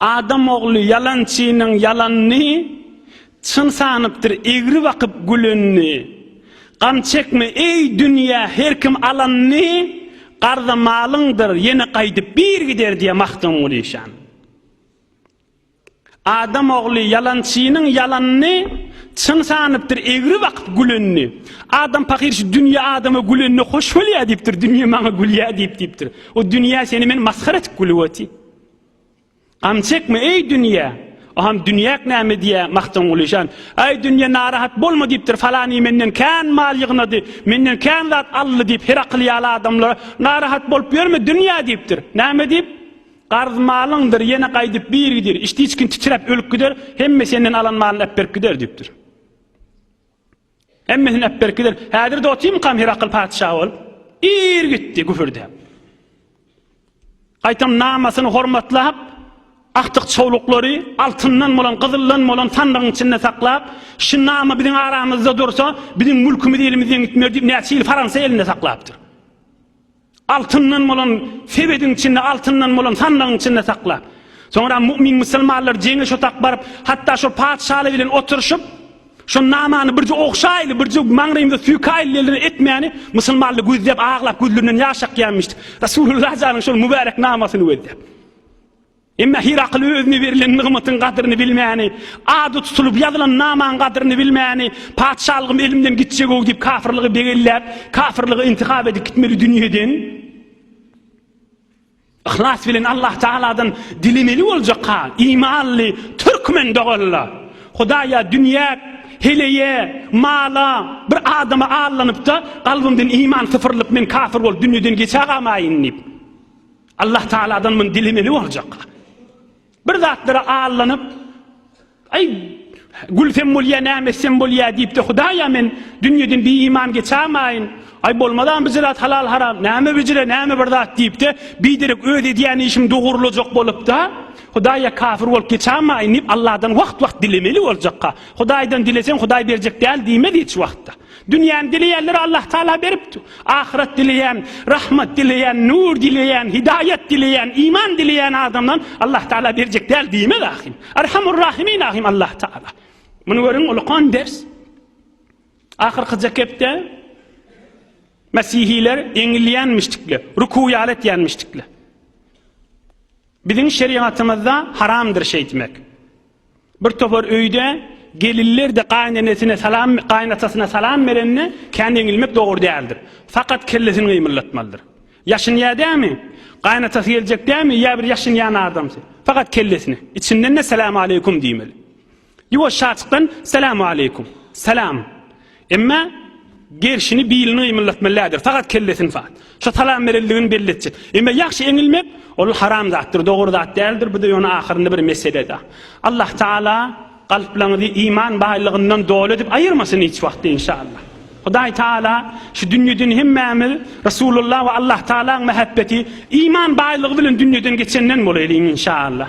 Adam ogly ýalançynyň ýalanyny Çyn sanypdyr egri bakyp gülenini. Gam çekme, eý, dünýe, her kim alanyny Garza malyňdyr, ýene gaýdyp bir gider diýýär Magtymguly şan. Adam ogly ýalançynyň ýalanyny Çyn sanypdyr egri bakyp gülenini. Adam pahyr şu dünýe adama gülenine hoş bolýar diýipdir, dünýe maňa gülýär diýip diýipdir. O dünýe seni men masgara etip gülüp otyr. Gam çekme, eý, dünýe! Oham dünýäk näme diýýä, Magtymguly şan. Äý, dünýe, narahat bolma diýipdir, Falany menden kän mal ýygnady, menden kän zat aldy diýip, Herakl ýaly adamlara narahat bolup ýörme, dünýe diýipdir. Näme diýip? Garz malyňdyr, ýene gaýdyp bir gider, içdiçgin titräp ölüp gider, hemme senden alan malyny äpberip gider diýipdir. Hemmesini äp berip gider. Häzir-de otymykam Herakl patyşa bolup? Ir gitdi güpürdäp. Gaýtam namasyny hormatlap, agtyk-çowluklary altyndan bolan, gyzyldan bolan sandygyň içinde saklap, şu nama biziň aramyzda dursa, biziň mülkümiz elimizden gitmez diýip, näçe ýyl Fransa elinde saklapdyr. Altyndan bolan sebediň içinde, altyndan bolan sandygyň içinde sakla. Soňra mu'min musulmanlar jeňe şo tak baryp, hatda şo patyşaly bilen oturyşyp, şo namany birje ogşaýly, birje maňrymyza süýkäýli diýldi, etmäni, musulmanly gözläp, aglap, gözlerinden ýaş akýanmyşdy. Resulullah janyň şol mübärek namasyny gözläp. Emma Hirakl özüne berlen nygmatyň gadyryny bilmäni, ady tutulyp ýazylan namaň gadyryny bilmäni, Patyşalygym elimden gitjeg-ow diýip kafyrlygy begelläp, kafyrlygy intihap edip gitmeli dünýeden yhlas bilen Allah Tagaladan dilemeli boljakka, imanly türkmen doganlar, Hudaýa, dünýä, heleýe, mala, bir adama allanyp-da, kalbymdan iman sypyrylyp men kafyr bolup dünýeden geçä gamaýyn diýip. Allah Taaladan muny dilemeli boljak. Bir zatlara allanyp, aý gülsem bolýa, näme etsem bolýa diýip-de Hudaýa men dünýeden bir iman geçämaýyn. Aý bolmazam bir zat halal haram, näme bijire, näme bir zat diýip-de, biderek öz edýän işim dogurlajak bolup-da, Hudaýa kafir bolup geçämaýyn diýip Allahdan wagt-wagt dilemeli boljakka. Hudaýdan dileseň Hudaý berjek däl diýmez hiç wagtda. Dünýäni dileýänlere Allah Tagala beripdi. Ahyret dileýän, rahmat dileýän, nur dileýän, hidaýat dileýän, iman dileýän adamdan Allah Tagala berjek däl diýmez ahim. Erhamur Rahimin ahim Allah Tagala. Muny görüň ulkan ders. Ahyrky zekepde Mesihiler eňilýänmişdikler, ruku ýaly etýänmişdikler. Biziň şerigatymyzda haramdyr şeýtmek. Bir topar öýde gelinler-de gaýynenesine salam, gaýynatasyna salam berende kän eňilmek dogry däldir. Fakat kellesini gymyldatmalydyr. Ýaşynýar dämi? Gaýynatasy geljek dämi? Ýa bir ýaşynýan adamsy? Fakat kellesini. Içinden-de Salam aleýkum diýmeli. Ýuwaşjaçykdan Selämualeýkum. Salam. Emma gerşini bilini gymyldatmaly däldir. Fakat kellesini fakt. Şo salam berenligini belli etjek. Emma ýagşy eňilmek ol haram zatdyr, dogry zat däldir. Bu-da ýöne ahyrynda bir meselede. Allah Taala kalplaňyzy iman baýlygyndan doly edip aýyrmasyn hiç wagt inşallah. Hudaý Taala şu dünýeden hemmämiz Resulullah we Allah Taalaň mähebbeti iman baýlygy bilen dünýeden geçenden bolaýlyň inşallah.